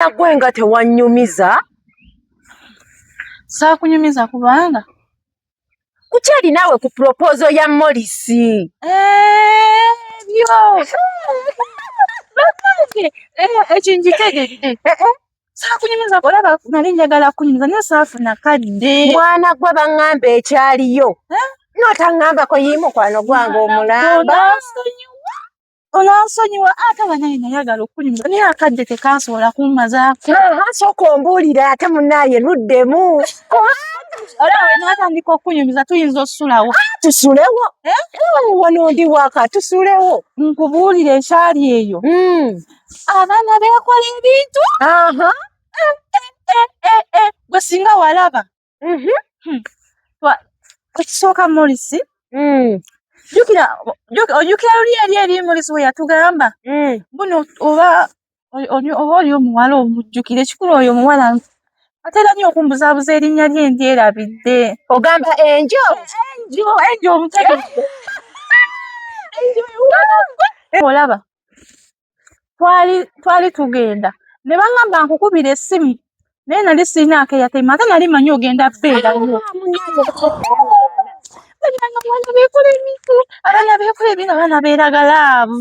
nagwe nga tewanyumiza saakunyumiza kubanga kukyali naawe ku propozo ya molisi eh, byo ekinjitegeedde eh, eh, saakunyumiza olaba nali njagala kunyumiza naye saafuna kadde mwana gwe baŋŋamba ekyaliyo notaŋŋambako yimukwano gwange omulamba onansonyiwa ate banaye nayagala okunyumira naye akadde tekansobola kummazaako sooka ombuulire ate munaaye luddemu olawe natandika okunyumiza tuyinza okusulawo tusulewo eh? wano ndi waka tusulewo nkubuulire ekyali eyo hmm. abaana beekola ebintu eh, eh, gwe singa walaba Mhm. Hmm. Ekisooka Morisi, hmm. jukira ojukira luli eri eri Morisi we yatugamba hmm. buno oba oba oli omuwala omujjukira ekikulu oyo omuwala atera nnyo okumbuzaabuza erinnya lye ndyerabidde. Ogamba enjo enjo enjo omutegedde enjo olaba twali twali tugenda ne bangamba nkukubira essimu naye nali sirina akeyatema ate nali manyi ogenda beera yo abaana bekola ebina abaana beeragalaavu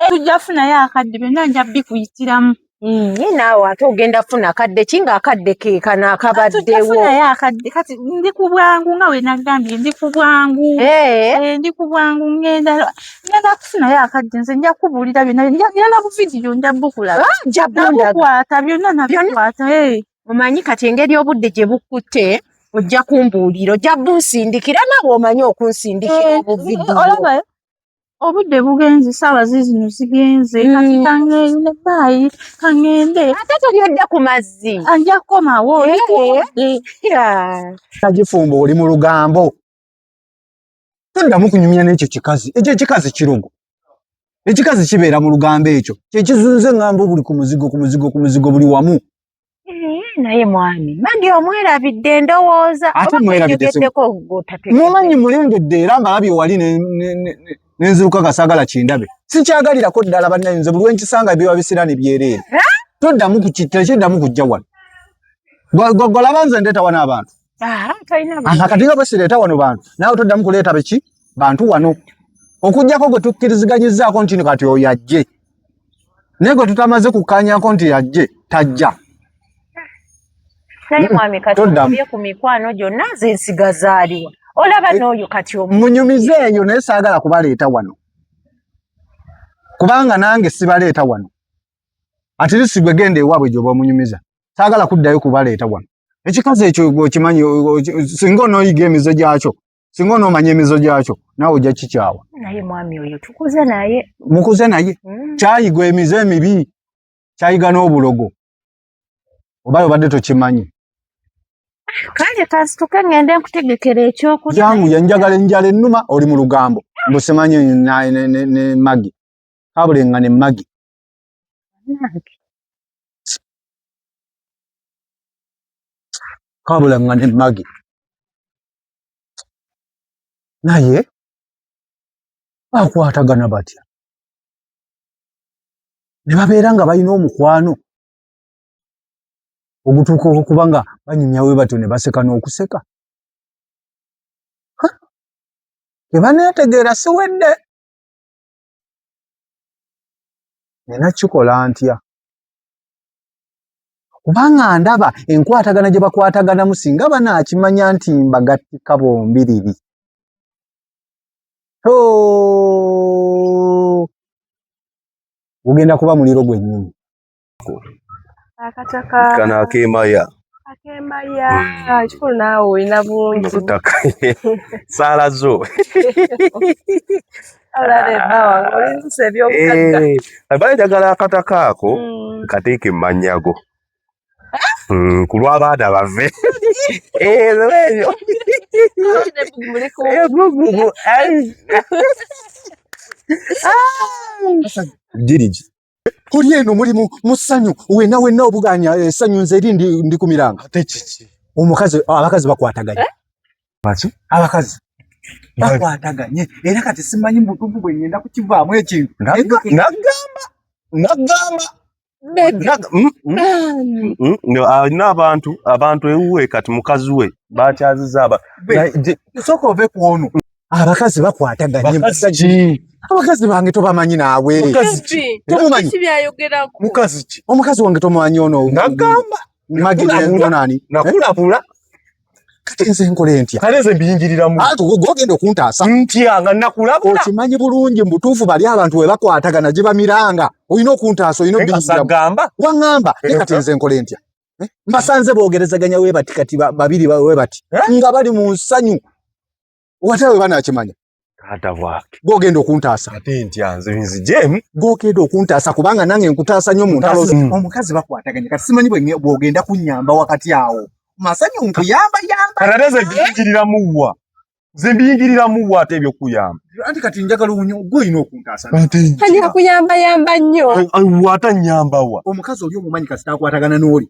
tujja funayo akadde byonna nja bikuyitiramu Mm, naye naawe ate ogenda funa kadde ki nga akadde kekano akabaddewo kati ndi ku bwangu nga wenagambye ndi ku bwangu eh. Eh, ndi ku bwangu ngenda ngenda kufunayo akadde nze nja kubuulira byonna byonna buvidiyo nja bukulaba ah, nja bukwata byonna nabikwata eh. omanyi kati engeri obudde gye bukkutte ojja kumbuulira ojja bunsindikira naawe omanyi okunsindikira obuvidiyo obudde bugenze saawa zizino zigenze mm. kati kangeri ne baayi kangende ate toli odda ku mazzi ajja kukomawo nagifumba oli mu lugambo toddamu kunyumya n'ekyo kikazi ekyo ekikazi kirugo ekikazi kibeera mu lugambo ekyo kyekizunze ŋŋamba obuli ku muzigo ku muzigo ku muzigo buli wamu naye mwami mandi omwerabidde ndowooza ate mwerabiddeeko mumanyi mulengedde era mbalabye wali nenziruka nga saagala kindabe sikyagalirako ddala bannaye nze buli wenkisanga biba bisira ne byereere toddamu tekiddamu kujja wano gwagwalaba nze ndeeta wano abantu kati nga bwesireeta wano bantu nawe toddamu kuleeta beki bantu wano okugyako gwe tukkiriziganyizaako nti kati oyo ajje naye gwe tutamaze kukanyako nti ajje tajja naye mwami kati ye ku mikwano gyonna nze nsigazaaliwa olaba eh, n'oyo kati munyumize eyo naye saagala kubaleeta wano kubanga nange sibaleeta wano atirisibwe genda ewaabwe gyoba omunyumiza saagala kuddayo kubaleeta wano ekikazi ekyo okimanyi singa onoyiga emizo gyakyo singa onomanya emizo gyakyo naawe ojja kikyawa naye mwami oyo tukuze naye mukuze naye mm. kyayigwa emize emibi kyayiga n'obulogo obayo obadde tokimanyi kale kasituke ngende nkutegekera ekyokulya jangu yenjagala enjala ennuma oli mu lugambo mbusimanyi ne magi kabule nga ne magi kabula nga ne magi naye bakwatagana batya ne babeera nga balina omukwano ogutuuka okuba nga banyumyawe batyo ne baseka n'okuseka tebaneetegeera siwedde nina kikola ntya kubanga ndaba enkwatagana gye bakwataganamu singa banaakimanya nti mbagattika bombiriri gugenda kuba muliro gwennyini akataka kano akemaya akemaya hmm. kikulu naawe olina bungi butaka saala zo bali njagala akataka ako hmm. kateeke mumanyago hmm, ku lw'abaana bave ezo ebyo girigi Kuli eno muli mu musanyu wena wena obuganya esanyu eh, nze eri ndi ndi kumiranga. Ate kiki? Omukazi abakazi bakwataganye. Eh? Baki? Abakazi. Bakwataganye. Era kati simanyi mutuvu bwe ngenda kukivaamu ekintu. Nagamba. Nagamba. Nagamba. Mm, mm, mm, alina abantu abantu ewuwe kati mukazi we bakyaziza aba sooka ove ku ono abakazi bakwataganye abakazi bange tobamanyi naawe omukazi wange tomumanyi ono nagamba magidonani nakulabula kati nze nkole ntya kale nze mbiyingiriramu ati ogenda okuntaasa ntya nga nakulabula okimanyi bulungi mubutuufu bali abantu we bakwatagana gye bamiranga olina okuntaasa olina obiyingiragamba waŋŋamba naye kati nze nkole ntya eh? mbasanze boogerezaganya webati kati babiri webati eh? nga bali mu nsanyu Watawe bana akimanya. Kata wake. Gogendo kuntasa. Ate nti anze nzi jem. Gogendo kuntasa kubanga nange nkutasa nyo muntalo. Mm. Omukazi bako ataganya. Kasimanyi bwe gogenda kunyamba wakati awo. Masanyo nkuyamba yamba. Karareze bingirira muwa. Zimbingirira muwa ate byo kuyamba. Andi kati njagala unyo gwe ino kuntasa. Ate. Kanya kuyamba yamba nyo. Ai wata nyamba wa. Omukazi oli omumanyi kasita akwatagana noli.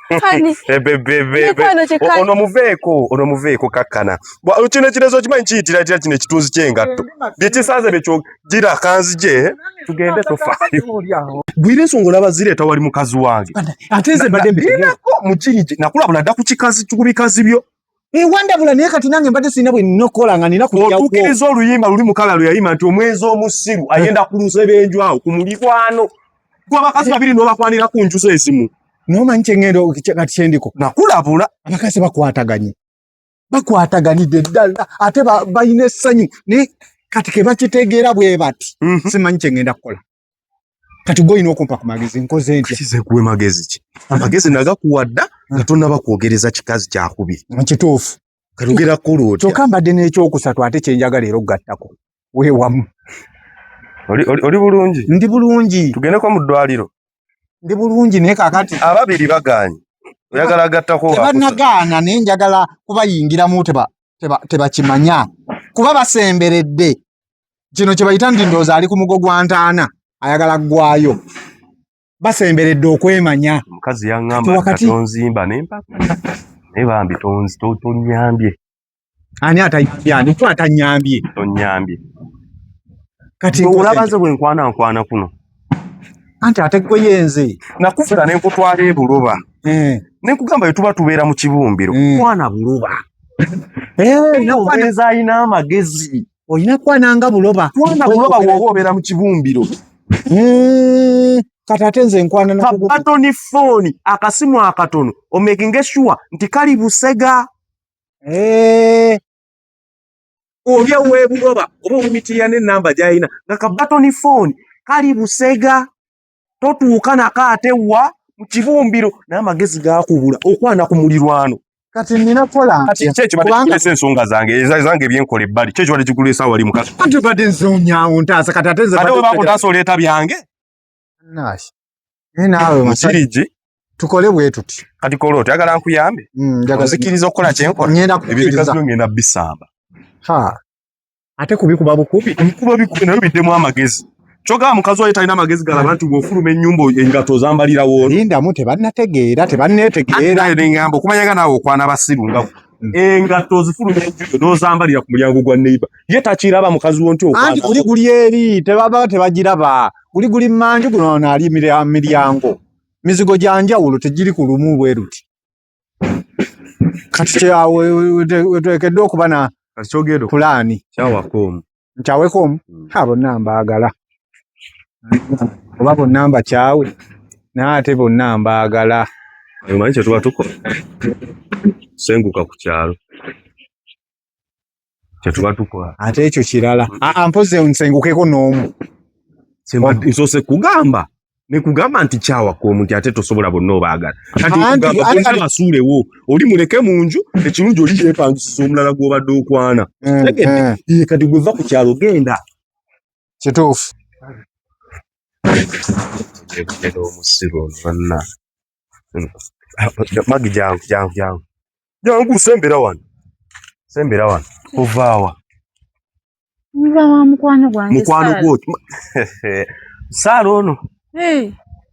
ono muveeko ono muveeko kakkana kino ekirezo okimanyi kiyitira tira kino ekitunzi kyengatto byekisanze bekyo gira kanzije tugende tofaayo gwira ensonga olaba zireeta wali mukazi wange ate nze mbadde mbirinako mukinyi nakulabula dda ku kikazi ku bikazi byo ewandabula naye kati nange mbadde sirina bwe nina okukola nga nina kutukiriza oluyimba luli mukala lwe yayima nti omwezi omusiru eh. ayenda ku lusebenju awo ku mulikwano gwe abakazi babiri n'obakwanira ku njuzo ezimu nomanyi kyengendo kati kyendiko nakulabula abakazi bakwataganye bakwataganidde ddala ate balina essanyu naye kati kebakitegeera bwe bati mhm. simanyi kyengenda kukola kati goyina okumpa ku magezi nkoze ntya kize kuwe magezi ki amagezi nagakuwa dda nga tonnaba kwogereza kikazi kyakubiri kituufu katugera kulu otya kyokka mbadde n'ekyokusatu ate kyenjagala era okugattako weewamu oli bulungi ndi bulungi tugendeko mu ddwaliro ndi bulungi naye kakati ababiri bagaanyi oyagala agattako tebanagaana naye njagala kubayingiramu tebakimanya kuba basemberedde kino kyebayita nti ndooza ali ku mugo gwa ntaana ayagala ggwayo basemberedde okwemanya omukazi yaŋambatonzimba nempaka naye bambi tonyambye ani atayambye ku atanyambye tonyambye kati olabaze bwenkwana nkwana kuno anti ate gwe yenze nakufuna nenkutwala ebuloba eh. nenkugamba yetuba tubeera mu kibumbiro eh. kwana buloba eh, nawe ayina amagezi olina kwananga buloba kwana buloba woba obeera mu kibumbiro hmm, kati ate nze nkwananakatoni fooni akasimu akatono omekinge sure nti kali busega eh. obi owebuloba oba omumitirira nenamba gyalina nga kabatoni fooni kali busega totuuka nako ate wa mu kibumbiro naye amagezi gakubula okwana ku mulirwano kati nina kola kati kyekyo batekulesa ensonga zange ezange ebyenkola ebbali kyekyo batekulesa wali mukati kati bade nzonyawo ntaasa kati ate nze bade bakutaasa oleeta byange naashi naye naawe musiriji tukole bwe tuti kati kola oti agala nkuyambe mm, nzikiriza okukola kyenkola ebyo bikazi ngenda bisamba ha ate kubikuba bukubi nkuba bikubi nayo biddemu amagezi kyogaa mukazi wayo talina magezi galaba nti bwofuluma ennyumba engato zambalira woona lindamu tebannategeera tebanneetegeera neŋamba okumanyaga naawe okwana basiru nga mm. engato zifuluma enjuyo nozambalira ku mulyango gwa neiba ye takiraba mukazi wo nti okanti guli guli eri tebaba tebagiraba guli guli manju guno naali miryango mizigo gya njawulo tegiri ku lumu bweruti kati kyawo weteekeddwa okuba na pulaani kyawakoomu nkyawekoomu hmm. a bonna mbaagala oba bonna mbakyawe naye ate bonna mbaagala omanyi kyetuba tukola senguka ku kyalo kyetuba tukola ate ekyo kirala mpozi nsengukeko n'omu nsose kugamba nekugamba nti kyawaka omuntu ate tosobola bonna obaagala katiasuulewo oli muleke mu nju ekirungi oli yepangisiza omulala gwobadde okwana mm, mm. kati gweva ku kyalo genda kituufu omusiru ono banna Magi jangu jangu jangu jangu, sembera wano, sembera wano. Ovaawa nvawa mukwano gwange, mukwano gwo Saala ono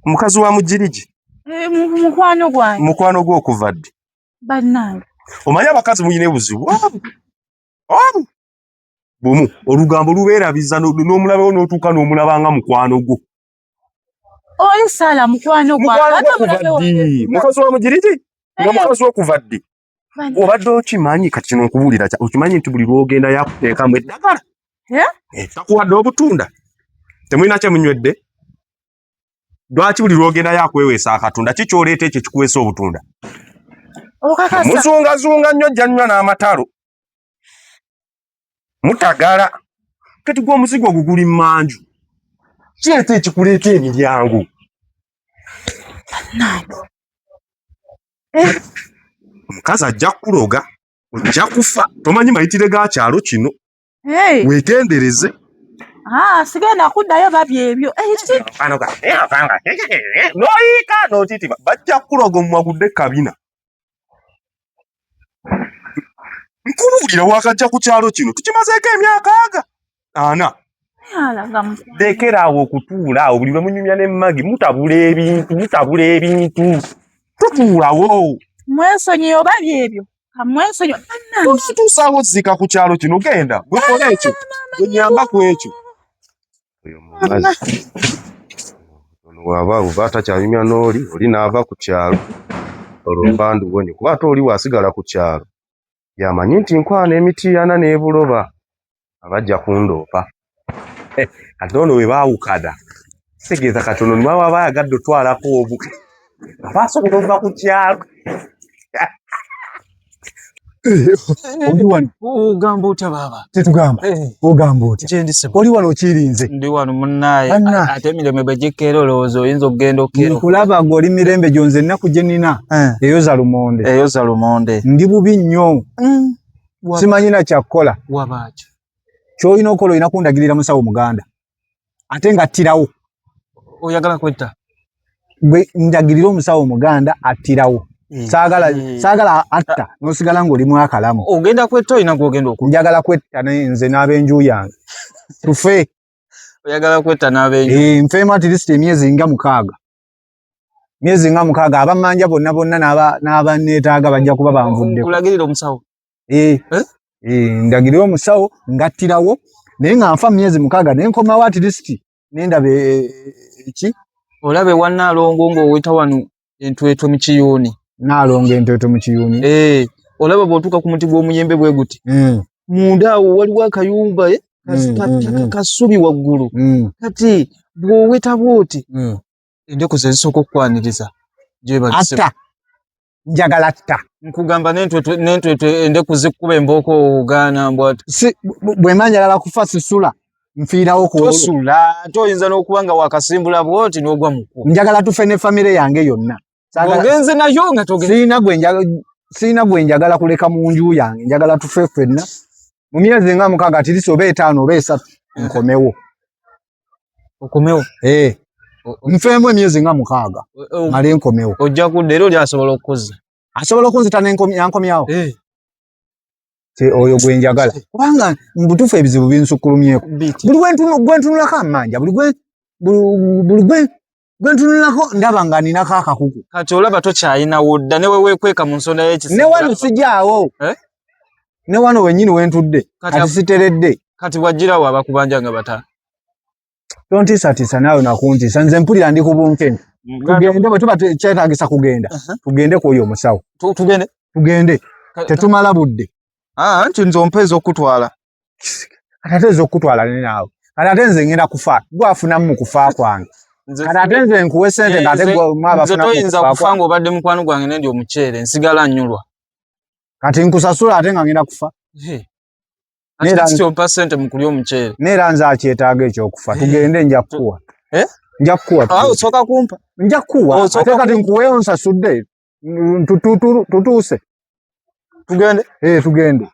mukazi wa mujiriji, eh, mukwano gwange, mukwano gwo okuva ddi? Bannange omanyi abakazi muyina ebuzibu bumu olugambo lubeerabiza n'omulabewo n'otuuka n'omulaba nga mukwano gwo Oyo sala mukwano gwa. Mukazi wa mujiriti? Nga eh. mukazi okuva ddi? Obadde okimanyi kati kino nkubuulira kya okimanyi nti buli lwogenda yakuteekamu eddagala. Eh? Eh, takuwadde obutunda. Temulina kye munywedde. Lwaki buli lwogenda yakweweesa akatunda ki kyoleeta ekyo kikuweesa obutunda? Muzungazunga nnyo jjanywa n'amatalo. mutagala kati gwa omuzigo oguguli manju kireeta ekikuleeta emiryango eh. omukazi ajja kukuloga ojja kufa tomanyi mayitire ga kyalo kino wegendereze Ah, sigenda kuddayo babi ebyo noyiika notiti bajja kukuloga omumwagudde kabina nkubuulira wakajja ku kyalo kino tukimazeeko emyaka aga ana lekera awo okutuula awo buli lwemunyumya ne magi mutabula ebintu mutabula ebintu tutuulawo mwesonyi oba byebyo kamwesonyi tutuusawo zika ku kyalo kino genda gwekola ekyo gwenyamba ku ekyo oyo munazi ono waba oba takyanyumya n'oli oli n'ava ku kyalo olwo mpandu wonye kuba ate oli wasigala ku kyalo yamanyi nti nkwana emitiana n'ebuloba abajja kundoopa eh, ate ono we baawukana kitegeeza kati ono niba waba ayagadde otwalako obu aba asobola ova ku kyalo oli wano ogamba otya baaba tetugamba eh. ogamba otya kyendi sebo oli wano okirinze ndi wano munnaye ate emirembe bwe gikkeera olowooza oyinza okugenda okkeera nkulaba gwe oli mirembe gyo nze ennaku gye nina eh. eyoza lumonde eyoza lumonde ndi bubi nnyo mm. simanyi na kyakkola wabaakyo kyolina okola olina kundagirira musawo muganda ate nga attirawo oyagala kwetta gwe njagirira omusawo omuganda attirawo mm. saagala mm. saagala atta nosigala ngaoli mwakalamu ogenda kwetta olina gwogenda oku njagala kwetta naye nze n'abenju yange tufe oyagala kwetta n'abenju eh, nfeemu atirisiti emyezi nga mukaaga myezi nga mukaaga abamanja bonna bonna n'abaneetaaga bajja kuba banvudde kulagirira omusawo eh, eh? eh, ndagirira omusawo ngattirawo naye nga nfa myezi mukaaga naye nkomawo at least nendaba eki olaba ewa naalongo ng'oweta wano entwetwe mu kiyuuni naalongo entwetwe mu kiyuuni olaba bw'otuuka ku muti gw'omuyembe bwe guti hmm. munda awo waliwo akayumba hmm, hmm, kasubi waggulu kati bw'oweta bw'oti endeku zezisooka okukwaniriza gyebagisiba atta njagala atta nkugamba nentwetwe endeku zikuba embooko ogaana mbwa bwemba njagala kufa sisula nfiirawo kuosula ate oyinza n'okuba nga wakasimbula bwoti n'ogwa muku njagala tufe ne famire yange yonna ogenze nayo nga togenzeirina sirina gwe njagala kuleka mu nju yange njagala tufe fenna mu myezi nga mukaaga tirisi oba etaano oba esatu eh. nkomewo okomewo eh. nfeemu emyezi nga mukaaga male nkomewo ojja kudda era oli asobola okukuzza asobola okunzita yankomyawo eh. oyo gwe njagala kubanga mubutuufu ebizibu binsukkulumyeko buli gwentunulako amanja buli gwe gwe ntunulako ndaba nga ninako akakuku kati olaba tokyayina wodda ne wewekweka mu nsonda yekisi ne wano sijaawo eh? ne wano wenyini wentudde kati siteredde kati wajjirawo abakubanja nga bata tontiisatiisa naawe nakuntiisa nze mpulira ndi ku bunkeni tugende bwe tuba kyetagisa kugenda uh-huh. tugende kwoyo omusawo tugende tugende tetumala budde ah, nti nze ompeeza okutwala kati ate nze okukutwala ne naawe kati ate nze ngenda kufa gwe afunamu mu kufa kwange kati ate nze nkuwe sente nga ate toyinza kufa ng'obadde mukwano gwange nendi omuceere nsigala nnyulwa kati nkusasula ate nga ngenda kufa kyompa sente mukulya omuceere neera nze akyetaaga ekyokufa tugende nja kukuwa eh? nja kukuwa ah, osooka kumpa nja kukuwa oh, ate kati nkuweyo nsasudde tutuuse tugende eh, tugende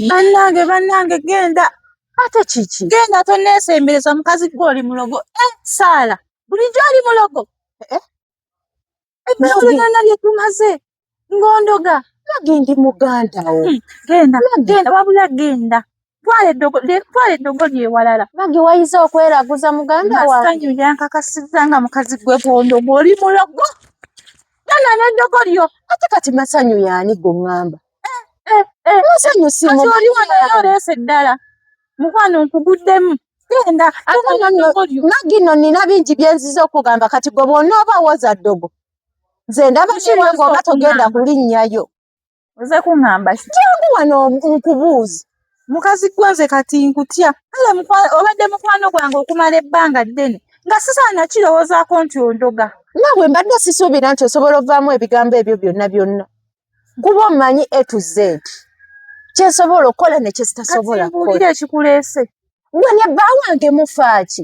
bannange bannange genda ate kiki genda toneesembereza mukazi gwe oli mulogo eh, saala bulijjo oli mulogo eh? ebyolonana bye tumaze ngondoga nage ndi muganda wo hmm, genda genda wabula genda twala eddogo lyewalala bagi wayiza okweraguza muganda wasanyu yankakasiza nga mukazi gwe bondo ngoli mulogo tala neddogo lyo ate kati masanyu yani gongamba eh, eh, eh, masanyu sioli wanayo oleesa eddala mukwano nkuguddemu genda magi no nina bingi byenziza okugamba kati gwe bwonooba woza ddogo nze ndaba kiwange oba togenda kulinnyayo oze kuŋŋamba ki jangu wano nkubuuzi mukazi gwe nze kati nkutya kale obadde mukwano gwange okumala ebbanga ddene nga sisaana kirowoozaako nti ondoga nabwe mbadde sisuubira nti osobola ovaamu ebigambo ebyo byonna byonna kuba omanyi a to z kyensobola okukola nekyesitasobola kukola ekikuleese gwe ne bba wange mufaaki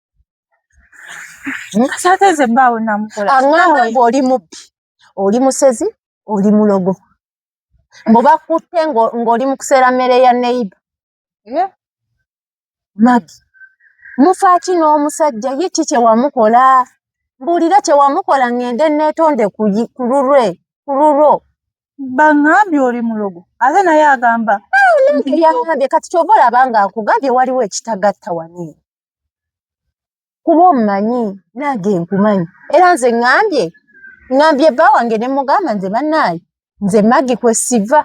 Sate nze baawo namukola. Angamba ngo oli mubbi. Oli musezi, oli mulogo. Mbo bakutte ngo ngoli mukusera mere ya neighbor. Yeah. Magi. Mufaki no musajja ye chiche wa mukola. Mbulira che wa mukola ngende netonde kuyi kurure. Kururo. Bangabi oli mulogo. Aze na ya gamba. Ah, nengeri ya ngambye kati chobola banga akugambye waliwo ekitagatta wani. kuba omumanyi nange nkumanyi era nze ŋambye ŋambye bba wange ne mugamba nze bannaayi nze magi kwe siva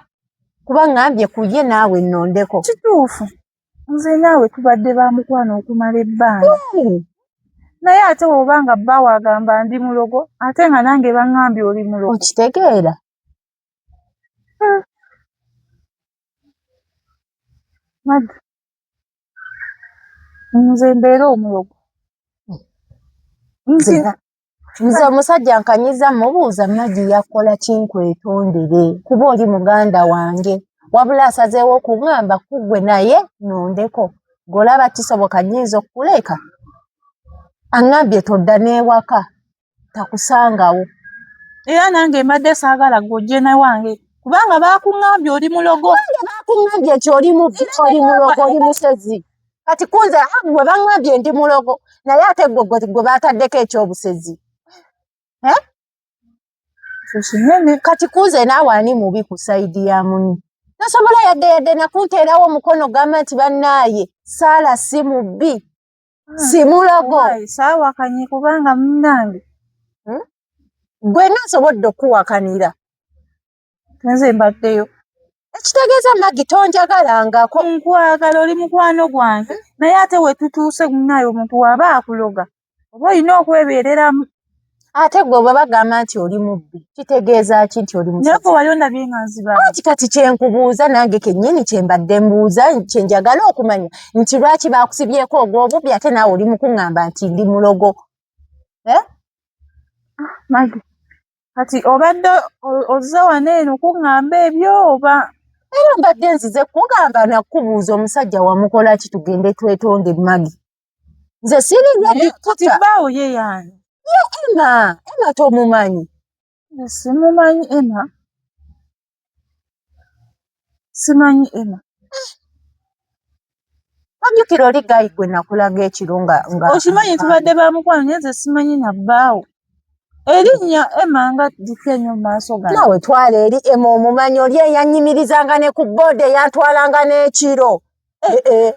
kuba ŋambye ku ye naawe nnondeko kituufu nze naawe tubadde ba mukwano okumala ebbanga naye ate woba nga bba wagamba ndi mulogo ate nga nange baŋambye oli mulogo okitegeera hmm. magi nze mbeera omulogo nzira nze omusajja nkanyiza mubuuza magi yakola kinkwetondere kuba oli muganda wange wabula asazeewo okuŋamba kugwe naye nondeko golaba kisoboka nyinza okukuleka aŋambye todda n'ewaka takusangawo era nange mbadde saagala gwojje ne wange kubanga baakuŋŋambye oli mulogo baakuŋŋambye nti oli mubbi oli mulogo oli musezi kati kunze ah, gwe baŋŋambye ndi mulogo naye ate gwe gwe baataddeko ekyobusezi eh? kinene kati kuuze naawe ani mubi ku sayidi ya muni tasobola yadde yadde nakunteerawo omukono gamba nti bannaaye saala si mubbi ah, simulogo saawakanye kubanga munange hmm? gwe nasobodde okuwakanira nze mbaddeyo ekitegeeza magi tonjagalangako nkwagala oli mukwano gwange naye ate wetutuuse munaye omuntu waba akuloga oba olina okwebeereramu ate gwe bwe bagamba nti oli mubbi kitegeeza ki nti oli muyeko wali ondabye nga nziba anti kati kyenkubuuza nange kennyini kyembadde mbuuza kyenjagala okumanya nti lwaki baakusibyeko ogw'obubbi ate naawe oli mukuŋŋamba nti ndi mulogo eh? ah, magi kati obadde ozze wano eno kuŋŋamba ebyo oba era mbadde nzize kugamba nakubuuza omusajja wamukola ki tugende twetonde magi nze siringa bikuta baawo ye yani ye ema ema tomumanyi simumanyi ema simanyi ema ojjukira oli gayi gwe nakulaga ekiro nga okimanyi tubadde ba mukwano naye nze simanyi na bbaawo erinnya ema nga dika enyo mumaaso ga nawe twala eri ema omumanyi oli eyanyimirizanga ne ku booda eyantwalanga n'ekiro eh, eh.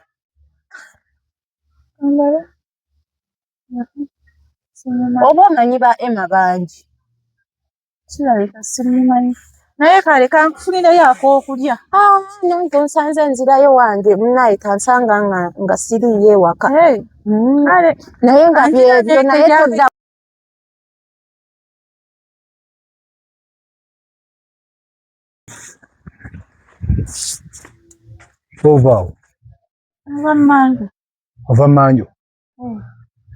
oba omanyi ba ema bangi kirabika simumanyi naye kale kankufunirayo akokulya ah, nange nsanze nzirayo wange munaye kansanga nga siriiyo ewaka mm. naye nga byebyo naye todda tovaawo ava manju ava manju hmm.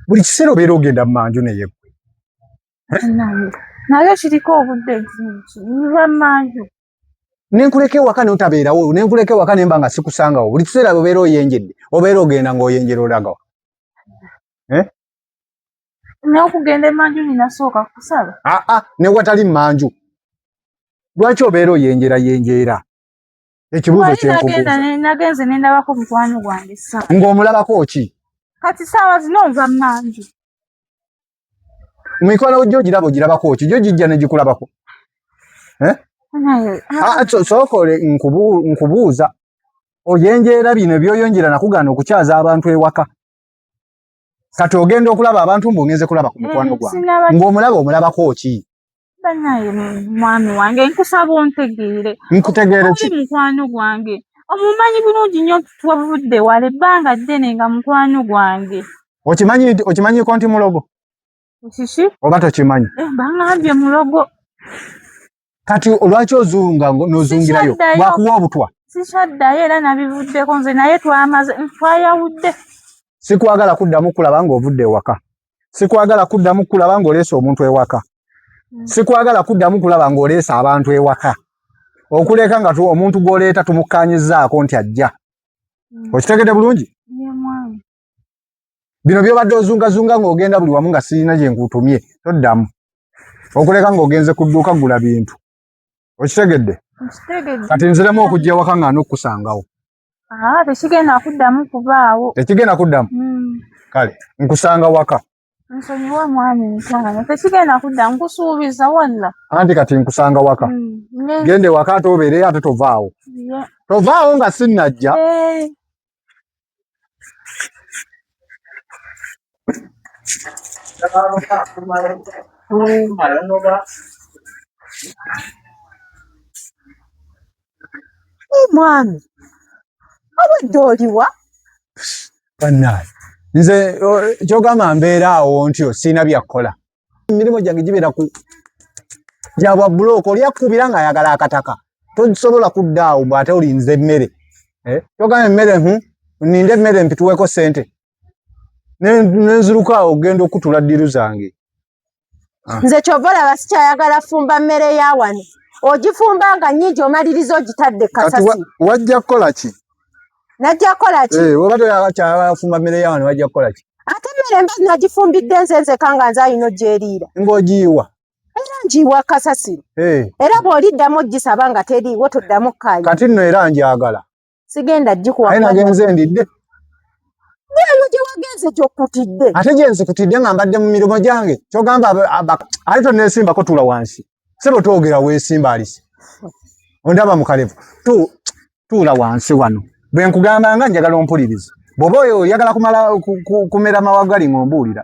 buli kiseera obeera ogenda mu manju naye gwe naye kiriko obudde nva manju nenkuleka ewaka notabeerawo nenkuleka ewaka nemba nga sikusangawo buli kiseera obeera oyenjedde obeera ogenda ngaoyenjera olagawo eh? n'okugenda emanju ninasooka kusala aa ah, ah, ne watali manju lwaki obeera oyenjera yenjeera ekibuuzo kyenagenze nendabako mukwano gwange sa ng'omulabako ki kati saawa zino nva manju mikwano gyo giraba ogirabako ki gyo gijja negikulabako eh? ah, sokole nkubuuza oyenjeera bino ebyoyonjera nakugaana okukyaza abantu ewaka kati ogenda okulaba abantu mbu ngenze kulaba ku mukwano mm, gwange ng'omulaba omulabako ki banaye mwami wange nkusaba ontegeere nkutegeere ki mukwano gwange omumanyi bulungi nnyo twavudde wala ebbanga ddene nga mukwano gwange okimanyi okimanyiko nti mulogo Shishi. Oba tokimanyi. Eh, bangambye mulogo. Kati olwaki ozunga n'ozungirayo lwakuwa obutwa? Sikyaddayo era nabivuddeko nze naye twamaze twayawudde. Sikwagala kuddamu kulaba ng'ovudde ewaka. Sikwagala kuddamu kulaba ng'oleese omuntu ewaka. Hmm. Sikwagala kuddamu kulaba ng'oleese abantu ewaka. Okuleka nga omuntu gw'oleeta tumukkaanyizzaako nti ajja. Hmm. Okitegedde bulungi? bino byobadde ozungazunga ng'ogenda buli wamu nga sirina gye nkutumye toddamu okuleka ng'ogenze ku dduuka gula bintu okitegedde kati nziremu okujja ewaka nga n'okukusangawo tekigenda kuddamu kubaawo tekigenda kuddamu hmm. kale nkusanga waka nsonyiwa mwami mukwano tekigenda kudda nkusuubiza walla anti kati nkusanga waka mm, gende waka ate obeereyo ate tovaawo tovaawo nga sinnajja eh. omwami abadde oliwa bannaaye nze kyogamba mbeera awo ntyo sirina byakkola emirimu gyange gibeera ku gyabwa bulooka oli akkubira ng'ayagala akataka tosobola kudda awo bw ate olinze emmere eh? kyogamba emmere hu hmm? ninde emmere mpituweko sente nenziruka awo ogenda okutula ddiru zange ah. nze kyova olaba sikyayagala fumba mmere ya wano ogifumba nga nyingi omaliriza ogitadde kasasi wajja kukola ki najja kukola ki eh, oba toyakyafumba mmere ya wano wajja kukola ki ate mmere mba nagifumbidde nze nzeka nga nze alina ogyeriira ng'ogiyiwa era ngiyiwa kasasiro eh. era bw'oliddamu ogisaba nga teriiwo toddamu kukanya kati nno era njagala sigenda gikuwa aye nagenze ndidde eyo gyewagenze gyokutidde ate gyenzikutidde nga mbadde mu mirimu gyange kyogamba ali tonesimbako tula wansi sebo twogera wesimba alisi ondaba mukalevu tuula wansi wano bwenkugamba nga njagala ompuliriza bwoba oyo oyagala kumala kumera mawagali ngaombuulira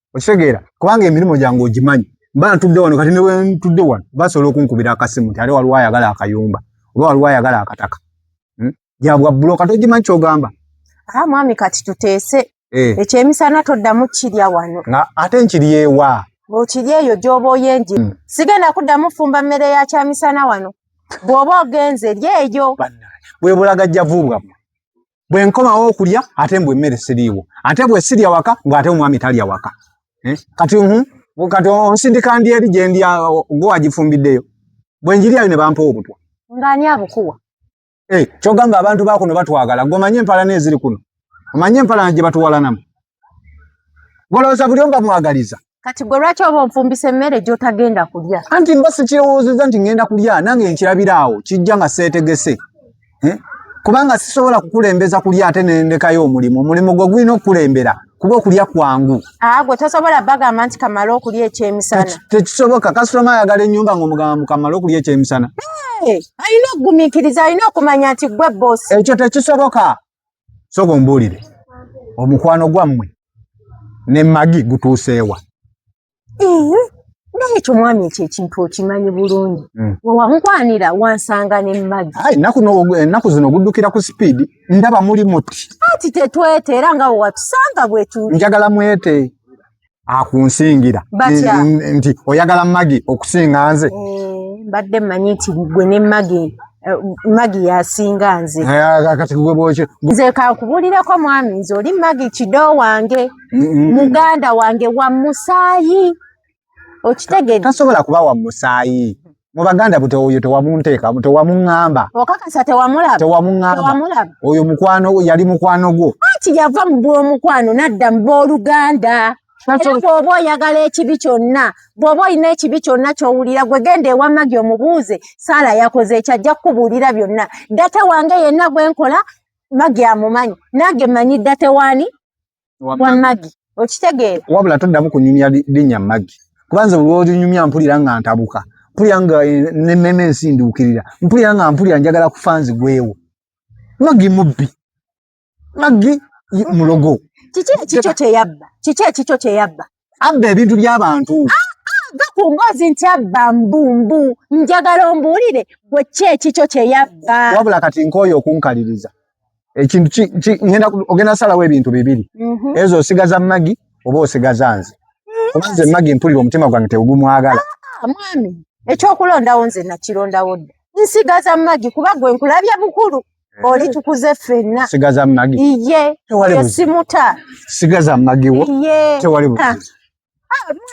okitegeera kubanga emirimu gyange ogimanyi mba ntudde wano kati ne wentudde wano basobola okunkubira akasimu nti ate waliwo ayagala akayumba oba waliwo ayagala akataka hmm? gyabwa bulo kati ogimanyi kyogamba aa ah, mwami kati tuteese eh. ekyemisana toddamu kirya wano nga ate nkiryewa okiri eyo gyoba oyenje hmm. sigenda kuddamu fumba mmere ya kyamisana wano bw'oba ogenze eri eyo bwebulagajjavu bwamwe bwe nkomawo okulya ate mbu emmere siriiwo ate bwe sirya waka mbu ate omwami talya waka eh? kati mhm, kati onsindika ndi eri gye ndi gwe wagifumbiddeyo bwe njiryayo ne bampa obutwa ng'ani abukuwa eh, kyogamba abantu bakuno batwagala gwe omanye empalana eziri kuno omanye empalana gye batuwalanamu Golowooza buli omu bamwagaliza. Kati gwe lwaki oba onfumbisa emmere gy'otagenda kulya? Anti mba sikirowoozezza nti ngenda kulya nange nkirabira awo kijja nga seetegese eh? kubanga sisobola kukulembeza kulya ate nendekayo omulimu omulimu gwe gulina okukulembera kuba okulya kwangu ah, gwe tosobola bagamba nti kamala okulya ekyemisana tekisoboka kasitoma ayagala ennyumba ngaomugamba mu kamala okulya ekyemisana alina okugumikiriza alina okumanya nti gwe bosi ekyo tekisoboka sooka ombuulire omukwano gwammwe ne magi gutuuseewa naye ekyo mwami ekyo ekintu okimanyi bulungi hmm. wewamukwanira wansanga ne magi ennaku zino oguddukira ku sipiidi ndaba muli muti ati tetwete era nga wewatusanga bwetu njagala mwete akunsingira nti oyagala magi okusinga nze eh, mbadde mmanyi nti gwe ne magi eh, magi yasinga nze eh, kati gwe bwoki nze kankubuulireko mwami nze oli magi kido wange muganda wange wa musaayi okitegeetasobola kuba wa musaayi mu baganda bute oyo tewamunteeka tewamuŋŋamba okakasa tewamulaba tewamuŋŋamba oyo mukwano yali mukwano gwo anti yava mu bw'omukwano nadda mu b'oluganda bwoba oyagala ekibi kyonna bwoba olina ekibi kyonna kyowulira gwe genda ewamagi omubuuze saala yakoze ekyo ajja kukubuulira byonna data wange yenna gwenkola magi amumanyi nange manyi data waani wa magi okitegeera wabula toddamu kunyumya linnya magi kuba nze olwolinyumya mpulira nga ntabuka mpulira nga eh, nememe ensinduukirira mpulira nga mpulira njagala kufa nzigwewo magi mubbi magi mulogo kiki ekikyo kyeyabba kiki ekikyo kyeyabba abba ebintu by'abantu ah, ah, va ku mboozi nti abba mbumbu njagala ombuulire gwe ki ekikyo kye yabba wabula kati nkooyo okunkaliriza ekintu ogenda salawo ebintu bibiri mhm. ezo osigaza magi oba osigaza nze mm. oba nze magi mpulira omutima gwange tegumwagala ah, mwami ekyokulondawo nze nakirondawo dda nsigaza magi kuba gwe nkulabye bukulu eh. oli tukuze fenna sigaza magi iye tewali simuta sigaza magi wo iye tewali bu ah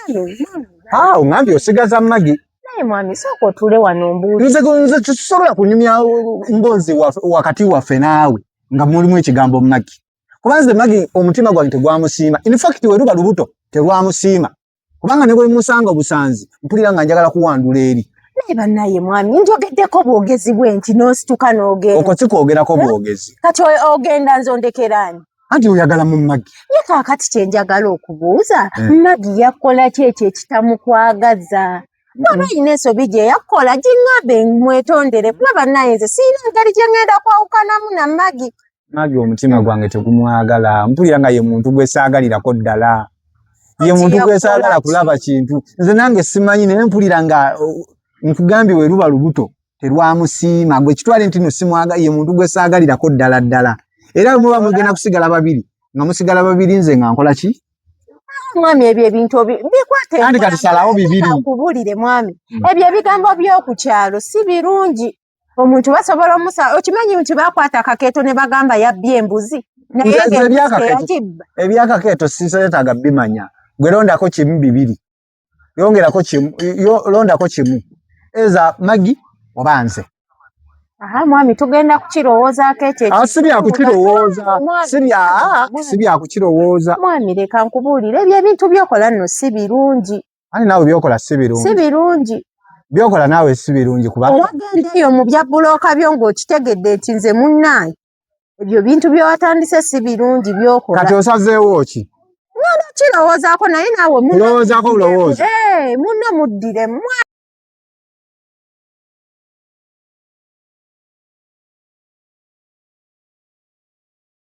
mwami ah ungambye osigaza magi naye mwami soko tule wano mbuzi nze nze tusobola kunyumya mbozi wakati wa fenawe nga mulimu ekigambo magi kubanze magi omutima gwange tegwamusiima in fact weruba lubuto tegwamusiima kubanga ne bwe musanga obusanzi mpulira nga njagala kuwandula eri naye banaye mwami njogeddeko bwogezi bwe nti n'osituka n'ogenda okwo si kwogerako eh? bwogezi kati ogenda nze ondekeraani anti oyagala mu magi ye kaakati kye njagala okubuuza eh. magi yakola ki ekyo ekitamukwagaza waba yina ensobi gye yakola giŋŋambe mwetondere kuba banaye nze siyina ngeri gye ŋŋenda kwawukanamu na magi nage omutima gwange tegumwagala mpulira nga ye muntu gwesaagalirako ddala ye muntu gwesaagala kulaba kintu nze nange simanyi naye mpulira nga nkugambye we luba lubuto terwamusiima gwe kitwale nti no simwaga ye muntu gwesaagalirako ddala ddala era muba mugenda kusigala babiri nga musigala babiri nze nga nkola ki mwami ebyo ebintu bikwatekatisalawo bibiri kubulire mwami hmm. ebyo ebigambo by'oku kyalo si birungi omuntu basobola omusa okimanyi nti bakwata akakeeto ne bagamba yabbye embuzi ebyakakeeto sisetaaga bimanya gwe londako kimu bibiri yongerako kimu londako kimu eza magi oba nze Aha mwami tugenda kukirowooza ko ekyo ah, si bya kukirowooza si bya ah, si bya kukirowooza mwami leka nkubuulire ebyo ebintu byokola nno si birungi ani naawe byokola si birungi si birungi byokola naawe si birungi kuba owagenda eyo mu bya bulooka byo ng'okitegedde nti nze munnaayi ebyo bintu byewatandise si birungi byokola kati osazeewo ki nona kirowoozaako naye naawe mulowoozaako bulowooza eh, munno muddiremu